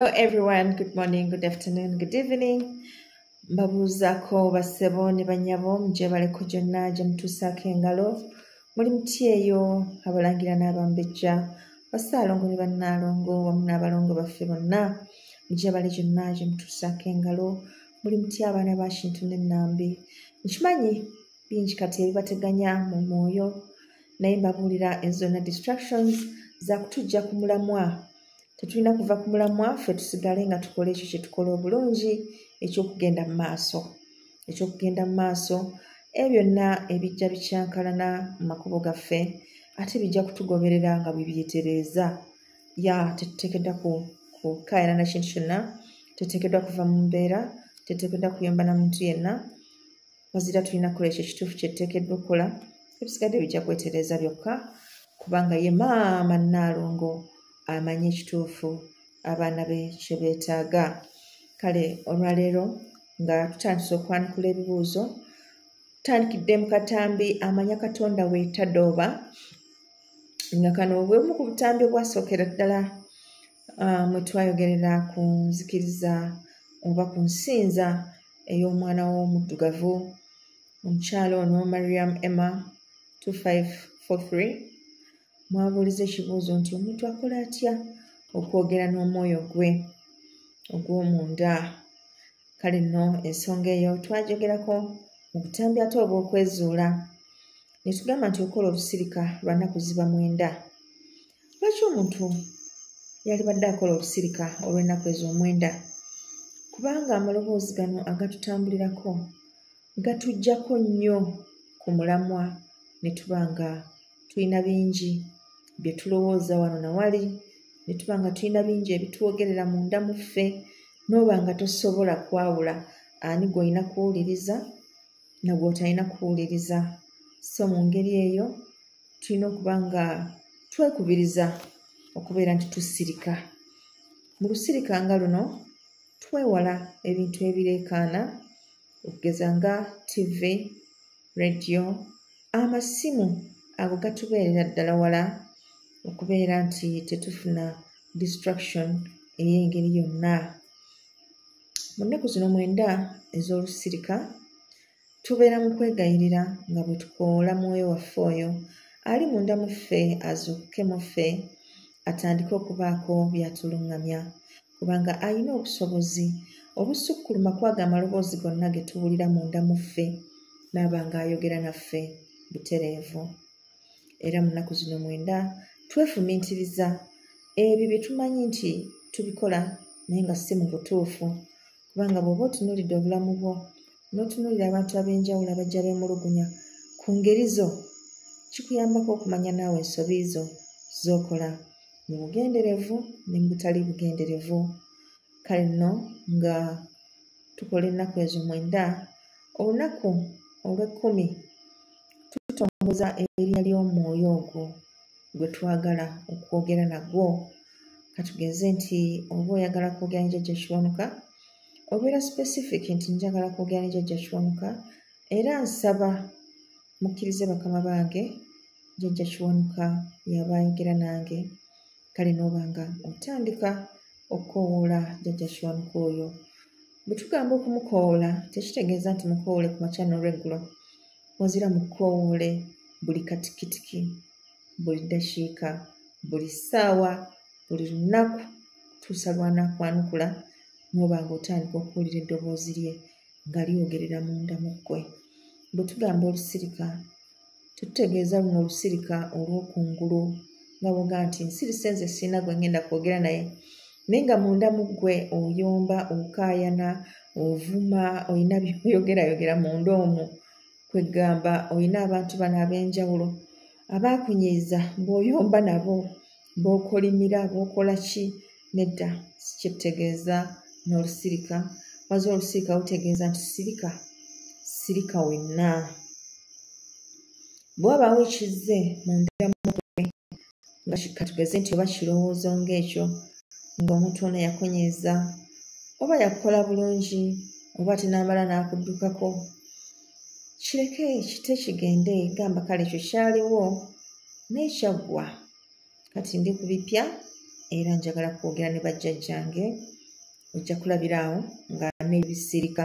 Hello everyone, good morning, good afternoon, good evening. Mbabuuzako basebo ne banyabo mujebale ku gyonna gye mutuusaako engalo muli mutyeeyo abalangira n'abambejja basaalongo ne bannaalongo wamu n'abalongo baffe bonna mujebale gyonna gye mutuusaako engalo muli mutya abaana ba kintu n'ennambi nkimanyi bingi kati ebibateganya mu mwoyo naye mbabuulira ezona distractions zakutujja ku mulamwa tetulina kuva ku mulamwa ffe tusigale nga tukola ekyo kyetukola obulungi ekyokugenda mu maaso ekyokugenda mu maaso e byonna ebijja bikyankalana mu makubo gaffe ate bijja kutugoberera nga bwebyetereeza ya tetutekedwa kukayana na kintu kyonna tetekedwa kuva mu mbeera tetekedwa kuyomba na muntu yenna wazira tulina kukola ekyo ekituufu kyetuteekeddwa okukola ebisigadde bijja kwetereeza byokka kubanga ye maama nnaalongo amanyi ekituufu abaana be kye beetaaga kale olwaleero nga tutandise okwanukula ebibuuzo tutandikidde mu katambi amanya katonda weetadooba nga kano bwemu ku butambi obwasookera ddala ah, mwe twayogerera ku nzikiriza oba ku nsinza ey'omwana w'omuddugavu omukyala ono mariam emma 2543 mwabuuliza ekibuuzo nti omuntu akola atya okwogera n'omwoyo gwe ogw'omunda kale nno ensonga eyo twajogerako mu butambi ate obw'okwezuula ne tugamba nti olukola olusirika lwa nnaku ziba mwenda lwaki omuntu yalibadde akola okusirika olw'ennaku ezo omwenda kubanga amaloboozi gano agatutambulirako gatuggyako nnyo ku mulamwa ne tuba nga tulina bingi bye tulowooza wano na wali ne tuba nga tulina bingi ebitwogerera munda mu ffe n'oba nga tosobola kwawula ani gw'olina kuwuliriza na gw'otalina kuwuliriza so mu ngeri eyo tulina okuba nga twekubiriza okubeera nti tusirika mu lusirika nga luno twewala ebintu ebireekaana okugeza nga ttivi rediyo amasimu ago gatubeerera ddala wala okubeera nti tetufuna distraction ey'engeri yonna mu nnaku zino mwenda ez'olusirika Tubeera mu kwegayirira nga bwe tukoola mwoyo waffe oyo ali munda mu ffe azuukuke mu ffe atandike okubaako by'atuluŋŋamya kubanga alina obusobozi obusukkuluma kwaga amaloboozi gonna ge tuwulira munda mu ffe n'aba ng'ayogera naffe butereevu era mu nnaku zino mwenda twefumiitiriza ebyo bye tumanyi nti tubikola naye nga si mu butuufu kubanga bw'oba otunuulidde obulamu bwo n'otunuulira abantu ab'enjawulo abajja beemulugunya ku ngeri zo kikuyambako okumanya naawe ensobi zo z'okola mu bugenderevu ne mu butali bugenderevu kale nno nga tukola ennaku ezo mwenda olunaku olw'ekkumi tutongoza erinnya ly'omwoyo ogwo gwe twagala okwogera nagwo katugeze nti oba oyagala kwogera ne jajja kiwanuka obeera specific nti njagala kwogera ne jajja kiwanuka era nsaba mukkirize bakama bange jajja kiwanuka yaba ayogera nange kale nooba nga otandika okukowoola jajja kiwanuka oyo bwe tugamba okumukowoola tekitegeeza nti mukowoole ku makya n'olweggulo wazira mukowoole buli katikitiki buli ddakiika buli ssaawa buli lunaku tuusa lwanakwanukula noba nga otandika okuwulira eddoboozi lye nga lyogerera munda mu ggwe bwe tugamba olusirika tutegeeza luno olusirika olwokungulu nga boga nti nsirise nze siina gwe ngenda kwogera naye naye nga munda mu ggwe oyomba okaayana ovuma olina byoyogerayogera munda omwo kweggamba olina abantu bano ab'enjawulo abaakunyiiza bw'oyomba nabo bw'okolimira bw'okola ki nedda kyetutegeeza n'olusirika waza olusirika lutegeeza nti sirika sirika wenna bwe wabaawo ekizze mundira mumutwe nga katugeze nti oba kirowoozo ng'ekyo ng'omuntu ono yakunyiiza oba yakukola bulungi oba ate n'amala n'akuddukako kireke kite kigende gamba kale ekyo kyaliwo naye kyaggwa kati ndi ku bipya era njagala kwogera ne bajjajjange ojja kulabiraawo nga n'ebisirika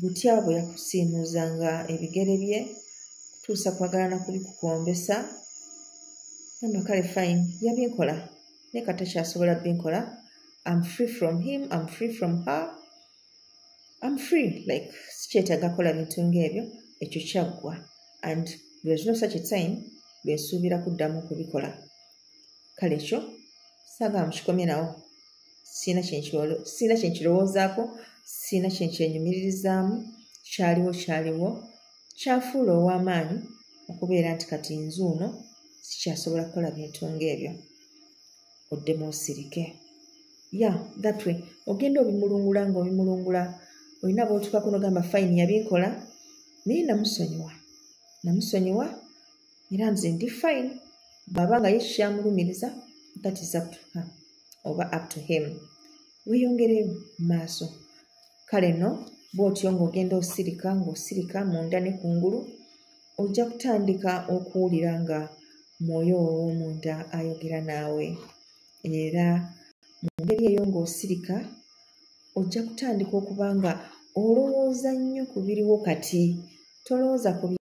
butya bwe yakusiimuuzanga ebigere bye kutuusa kwagala na kubikukombesa gamba kale fine yabinkola naye kata kyasobola binkola am free from him am free from her am free like sikyetaaga kola bintu ngaebyo ekyo kyaggwa and there's no such a time lwensuubira kuddamu kubikola kale ekyo sagala mukikomye nawo sirina kyenkirowoozaako sirina kyenkyenyumiririzaamu kyaliwo kyaliwo kyafuula ow'amaanyi okubeera nti kati nzuuno sikyasobola kukola bintu ng'ebyo oddemu osirike ya that way ogenda obimulungula ng'obimulungula olina bootukako nogamba fayini yabinkola naye namusonyiwa namusonyiwa era nze ndi fine bwaba nga ye kyamulumiriza that is up to her oba up to him weyongere maaso kale no bwotyo ng'ogenda osirika ng'osirika munda ne kungulu ojja kutandika okuwulira nga mwoyo ow'omunda ayogera naawe era mu ngeri eyo ng'osirika ojja kutandika okuba nga olowooza nnyo ku biriwo kati tolowooza ku